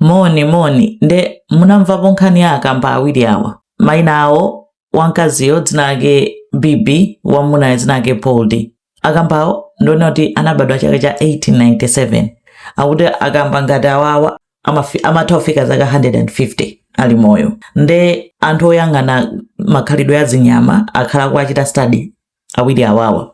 moni moni nde munamvapo nkhani ya akamba awiri awa maina awo wamkaziyo dzina lake bibi wamunayo dzina lake poldi akambawo ndiona kuti anabadwa chaka cha 1897 akuti akamba ngati awawa amafi- amatha kufika zaka 150 ali moyo nde anthu oyang'ana makhalidwe a zinyama akhala akuwachita study awiri awawa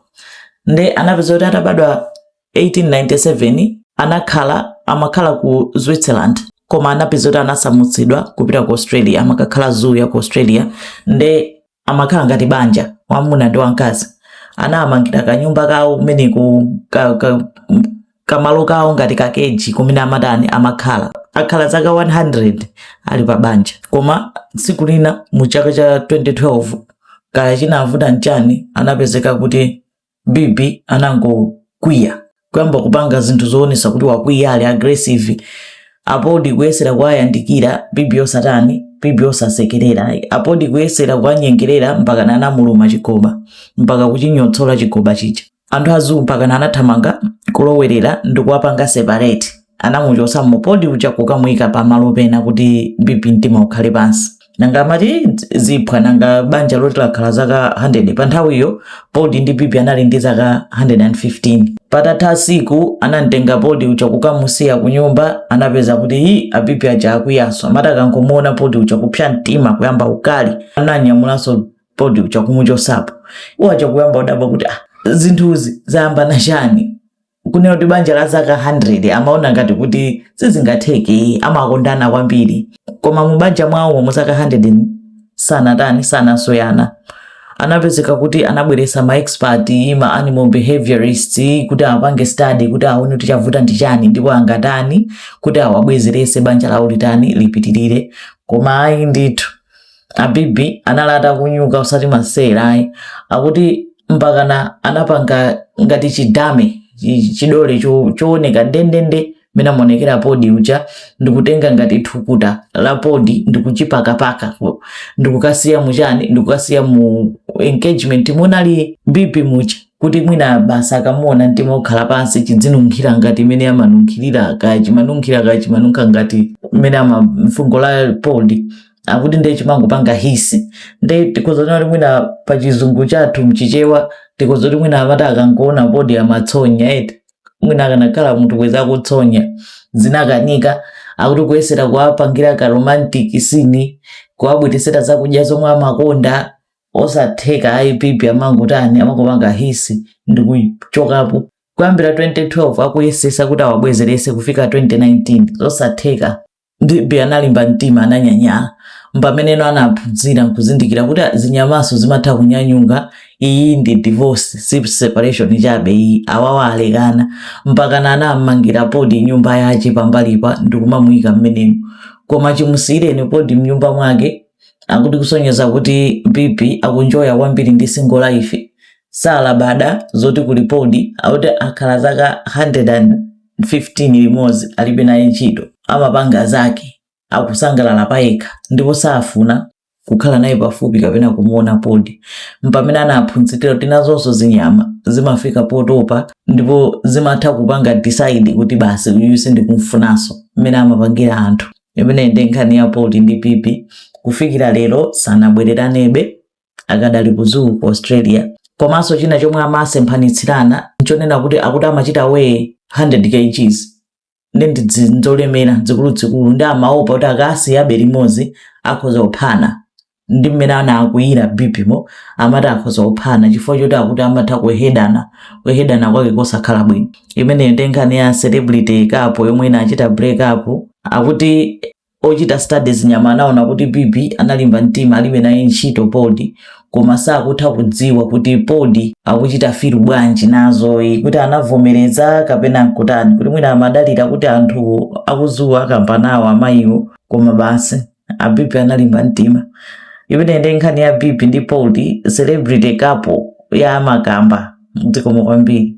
nde anapeza kuti atabadwa 1897 anakhala amakhala ku Switzerland koma anapeza kuti anasamutsidwa kupita ku Australia amakakhala zoo ya ku Australia nde amakhala ngati banja wamuna ndi wamkazi anawamangira kanyumba kawo kumeneko ka, ka, kamalo kawo ngati kakeji kumene amatani amakhala akhala zaka 100 ali pa banja koma tsiku lina mu chaka cha 2012 kaya chinavuta nchani anapezeka kuti bibi anangokwiya kuyamba kupanga zinthu zoonesa kuti wakwiya ali aggressive apoldi kuyesera kuwayandikira bibi osatani bibi osasekerera apoldi kuyesera kuwanyengerera mpaka anamuluma chigoba mpaka kuchinyotsola chigoba chija anthu a zoo mpakana anathamanga kulowerera ndikuwapanga separate anamuchotsamo poldi uja kukamuyika pa malo pena kuti bibi mtima ukhale pansi nanga amati ziphwa nanga banja loti lakhala zaka 100 pa nthawiyo poldi ndi bibi anali ndi zaka 115 patatha masiku anamtenga poldi uja kukamusiya ku nyumba anapeza kuti hi abibi aja akwiyaso amati akangomuona poldi uja kupsa mtima kuyamba ukali ananyamulanso poldi uja kumuchosapo iwo aja kuyamba udabwa kuti ah, zinthuzi zayamba nchani kunena kuti banja la zaka 100 amaona ngati kuti sizingatheke amakondana kwambiri koma mu banja mwawo mu zaka 100 sanatani sanasoyana anapezeka kuti anabweresa ma expert ma animal behaviorist kuti apange study kuti aone kuti chavuta ndi chani ndipo angatani kuti awabwezerese banja lawo litani lipitirire koma ayi ndithu abibi anali atakunyuka usati masewera ayi akuti mpakana anapanga ngati chidummy chi- chidole cho- chooneka ndendende mmene amaonekera poldi uja ndikutenga ngati thukuta la poldi ndikuchipakapaka ndikukasiya muchani ndikukasiya mu keji mmene munali bibi muja kuti mwina basi akamuona mtima ukhala pansi chidzinunkhira ngati mmene amanunkhirira kaya chimanunkhira kaya chimanunkha ngati mmene ama mfungo la poldi akuti ndiye chimangopanga hiss ndiye tikhoza kuti mwina pa chizungu chathu mchichewa tikhoza kuti mwina amati akangoona poldi amatsonya eti mwina akanakhala munthu bwezi akutsonya zinakanika akuti kuyesera kuwapangira ka romantic scene kuwabweresera zakudya zomwe amakonda osatheka ayi bibi amangotani amangopanga hiss ndi kuchokapo kuyambira 2012 akuyesesa kuti awabwezerese kufika 2019 zosatheka Bibi analimba mtima ananyanyala. Mpameneno anaphunzira nkuzindikira kuti a, zinyamaso zimatha kunyanyuka, iyi ndi divorce si separation chabe iyi, awawa alekana. Mpakana anam'mangira Poldi nyumba yache pambalipa ndikumamuika m'menemo. Koma chimusiireni Poldi mnyumba mwake akuti kusonyeza kuti Bibi akunjoya kwambiri ndi single life. Salabada zoti kuli Poldi akuti akhala zaka 100 and. 15 limodzi alibe naye ntchito, amapanga zake, akusangalala payekha ndipo safuna kukhala naye pafupi kapena kumuona Poldi. Mpamene anaphunzitira kuti nazonso zinyama zimafika potopa ndipo zimatha kupanga decide kuti basi uyu sindikumfunanso, mmene amapangira anthu. Imene ndi nkhani ya Poldi ndi Bibi. Kufikira lero sanabwereranebe. akadali ku zoo ku australia komanso china chomwe amasemphanitsirana nchonena kuti akuti amachita weigh 100 kgs ndi ndidzi- nzolemera zikuluzikulu ndi amaopa kuti akasiyabe limodzi akhoza kuphana ndi mmene anakwiyira bibimo amati akhoza kuphana chifukwa choti akuti amatha kuhedana kuhedana kwake kosakhala bwino imeneyo ndi nkhani ya celebrity couple yomwe inachita break up akuti Ochita study zinyama anaona kuti Bibi analimba mtima alibe naye ntchito Poldi koma sakutha kudziwa kuti Poldi akuchita feel bwanji nazoyi kuti anavomereza kapena nkutani kuti mwina amadalira kuti anthu a ku zoo-wa akamba nawo amayiwo koma basi a Bibi analimba mtima imene ndi nkhani ya Bibi ndi Poldi celebrity couple ya makamba zikomo kwambiri